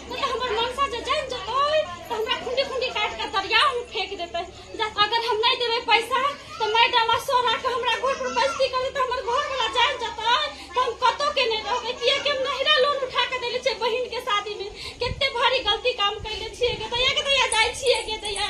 ओ तऽ हमर मनसा जे जानि जेतै तऽ हमरा खुंडी खुंडी काटि कऽ दरियामे फेंक देतै जा अगर हम नहि देबै पैसा तऽ मैडम आ सोरा के हमरा घर पर बैसी करी तऽ हमर घर वाला जानि जेतै तऽ हम कतौ के नहि रहबै किया कि हम नहिरा लोन उठा के देले छियै बहिन के शादी में कते भारी गलती काम कैले छियै के दैया के दैया जाइ छियै के दैया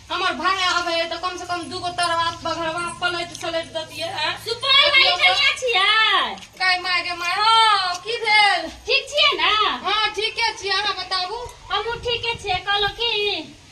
हमर भाय आबे है तो कम से कम दू गो तरवा बघरवा पलट सलट दतिए हैं सुपौल वाली कनिया छियै काय माय गे माय हो की भेल ठीक छियै ने हां ठीके छी अहाँ बताबू हमहूँ ठीके छियै कहलहुँ की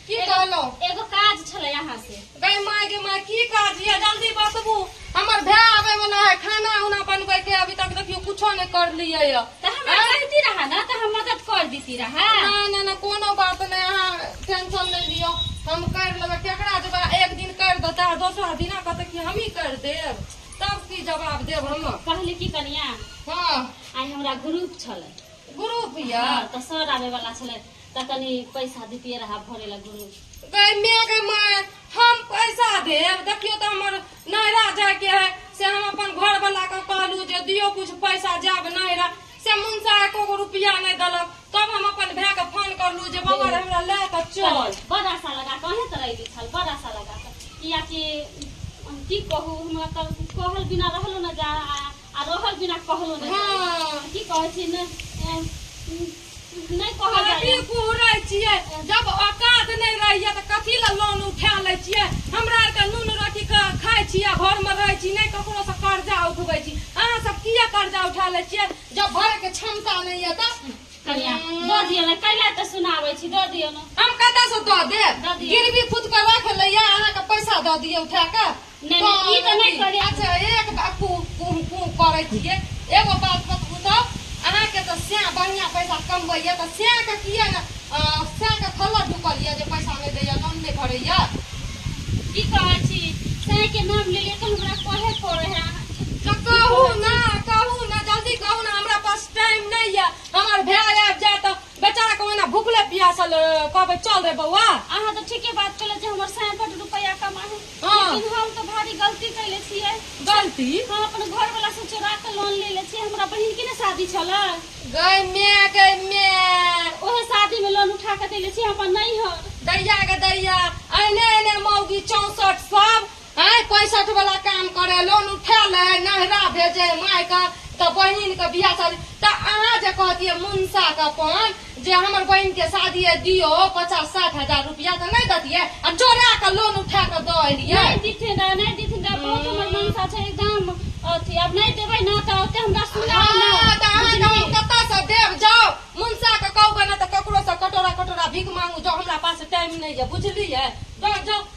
की कहलो एगो काज छलै अहाँ से गई माय गे माय की काज ये जल्दी बतबू हमर भाय आबे वाला है खाना उना बनबे के अभी तक देखियो कुछो नहीं कर लिए है तो हमरा कहती रहा ना तो हम मदद कर देती रहा ना ना ना कोनो बात नहीं अहाँ टेंशन नहीं लियो हम कर लेबे केकरा जबा एक दिन कर देता है दोसरा दिन कहते कि हम ही कर देब तब की जवाब देब हम कहली की कनिया हाँ आइ हमरा ग्रुप छलै ग्रुप या हाँ, तो सर आबे वाला छलै तो कनी पैसा देतिए रहा भरे ला ग्रुप गए मेघ माय हम पैसा देब देखियो तो हमर नैरा जाए के है से हम अपन घर वाला के कहलू जे दियो कुछ पैसा जाब नैरा से मुंसा एको गो रुपया नहीं दलक तब हम अपन भाई के फोन करलू जे बाबा रे हमरा ले के चल बड़ आशा लगा कऽ अहें तरह अयली छल बड़ आशा लगा कऽ कियाकि हम की कहू हमरा तऽ कहल बिना रहलो ने जा आ आ रहल बिना कहलो ने हाँ। की कहै छी ने अ, नहि कहल अभी जाइए कुहरै छियै जब औकात नहि रहैया तऽ कथी लए लोन उठा लै छियै हमरा आरके नून रोटी खा- खाइ छी आ घरमे रहै छी नहि ककरो से कर्जा उठबै छी अहाँ सब किया कर्जा उठा लै छियै जब भरे के क्षमता नहि यऽ तऽ कनिया दऽ दियौ ने कैला तऽ सुनाबै छी दऽ दियौ ने हम कतऽ से दऽ दऽ देब दिअ। गिरवी खुद के रख लैया अहाँके पैसा दऽ दियै उठा कऽ नहि नहि, ई तऽ नहि कहलियै अच्छा एक बात कु कु कु करै छियै एगो बात बतबू तऽ अहाँके तऽ स्याह बढ़िआँ पैसा कमबैए तऽ स्याहके किए ने अ, स्याहके खल्लर ढुकल यए जे पैसा नहि दैए लोन नहि भरैए की कहै छी सही के नाम ले ले तो हमरा कहे पड़े है अहाँके तऽ कहू ने कहू ने जल्दी कहू ने हमरा पास टाइम नहि यए हमर भाय आबि जाए तऽ बेचारा के ओहिना भूखले पियासल अ, कहबै चल रे बौआ अहाँ तो ठीके बात कहले जे हमर साया बड रुपया कमा है हाँ। लेकिन हम तो भारी गलती कैले छियै गलती हम अपन घर वाला से चोरा के लोन ले ले छियै हमरा बहिन के ने शादी छल गई मैं गई मैं ओहे शादी में लोन उठा के देले छियै हम अपन नहीं हर दैया के दैया एने एने मौगी चौसठ सब आँय पैंसठ वाला काम करे लोन उठा ले नहरा भेजे माय के तो बहन के बियाह शादी तो अहाँ जे कहतिए मुंसा के अपन जे हमर बहन के शादी है दियो पचास साठ हजार रुपया तो नहीं दतिए आ चोरा के लोन उठा के दो एलिए नहीं दीथिन रहा नहीं दीथिन रहा बहुत हमर मनसा छै एकदम अथी अब नहीं देबै ना तऽ ओते हमरा सुना हाँ, तो अहाँ के हम कतऽ से देब जाओ मुंसा के कहबै ना तो ककरो से कटोरा कटोरा भीख मांगू जाओ हमरा पास टाइम नहीं है बुझलिए जाओ जाओ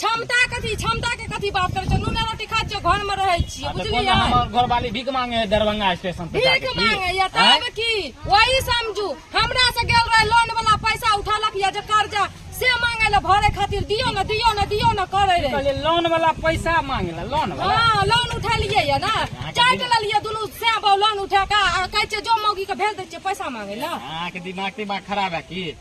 क्षमता कथी क्षमता के कथी बात करे छो नूना रोटी खाय छो घर में रहे छी आ तऽ बुझलियै कोन हमर घरवाली भीख मांगे है दरभंगा स्टेशन पर भीख जाके की? मांगे या आँय? तब की वही समझू हमरा से गेल रहे लोन वाला पैसा उठलक या जे कर्जा से मांगे ले भरे खातिर दियो न दियो न दियो न करे रहे कहलियै लोन वाला पैसा मांगेला लोन वाला हाँ लोन उठलियै या ना चाट लेलियै दुनू से लोन उठा के आ कहै छै जो मौगी के भेज दै छियै पैसा मांगे ले अहाँके दिमाग तिमाग खराब है की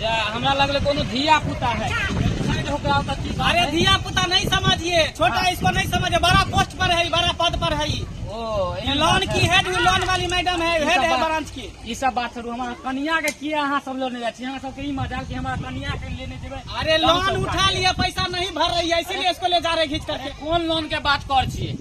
जे हमरा लगले कोनो धिया पुता है साइड होके आओ तऽ की बात अरे है? धिया पुता नहीं समझिए छोटा हाँ। इसको नहीं समझिए बड़ा पोस्ट पर है बड़ा पद पर है ओ ये एहन लोन बात है। की हेड लोन वाली मैडम है हेड है ब्रांच की ई सब बात छोड़ू हमरा कनिया के किया अहाँ सब लोने जाइ छी अहाँ सबके ई मजाल कि हमरा कनिया के लेने जेबै अरे लोन उठा लिए पैसा नहीं भर रही है इसीलिए इसको ले जा रहे खींच करके कोन लोन के बात कर छियै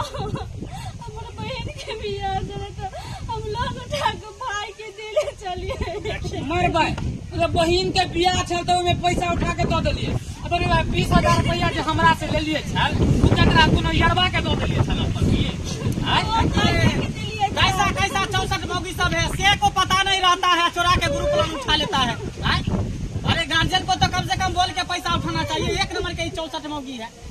हमर बहन के बियाह देले तो हम लोग उठा के भाई के देले चलिए मरबै मतलब बहिन के बियाह छल तो ओहिमे पैसा उठा के दऽ देलियै आ तोरे भाय बीस हजार रुपैआ जे हमरा से लेलियै छल ओ ककरा कोनो यरबा के दऽ देलियै छल अपन की आँय? कैसा कैसा चौसठ मौगी सब है से को पता नहीं रहता है चोरा के ग्रुप लोन उठा लेता है आँय? अरे गार्जियन को तो कम से कम बोल के पैसा उठाना चाहिए एक नंबर के चौसठ मौगी है